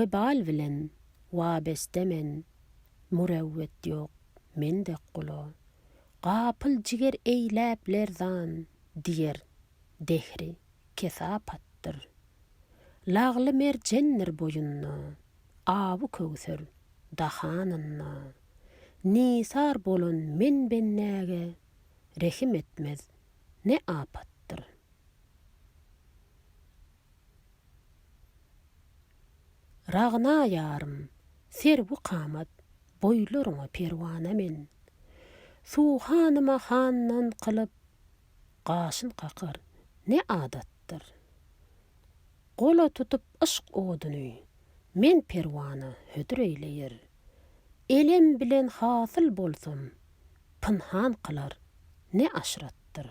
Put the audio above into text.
We bal bilen wabeste men, Mürewwet ýok men dek gula. Gapyl jiger eýläp lerzan, Diýer, dehri kesapatdyr. Lagly merjendir boýunda, Awy köwser dahanynda. Nisar bolan men bendäge, Rehim etmez ne apatdyr. Ragna ýarym, serwi kamat, boýlaryňa perwana men. Suw hanyma handan kylyp, gaşyn kakar, ne adatdyr. Gola tutup yşk oduny, men perwana hödür eýleýär. Elem bilen hasyl bolsam, pynhan kylar, ne aşratdyr.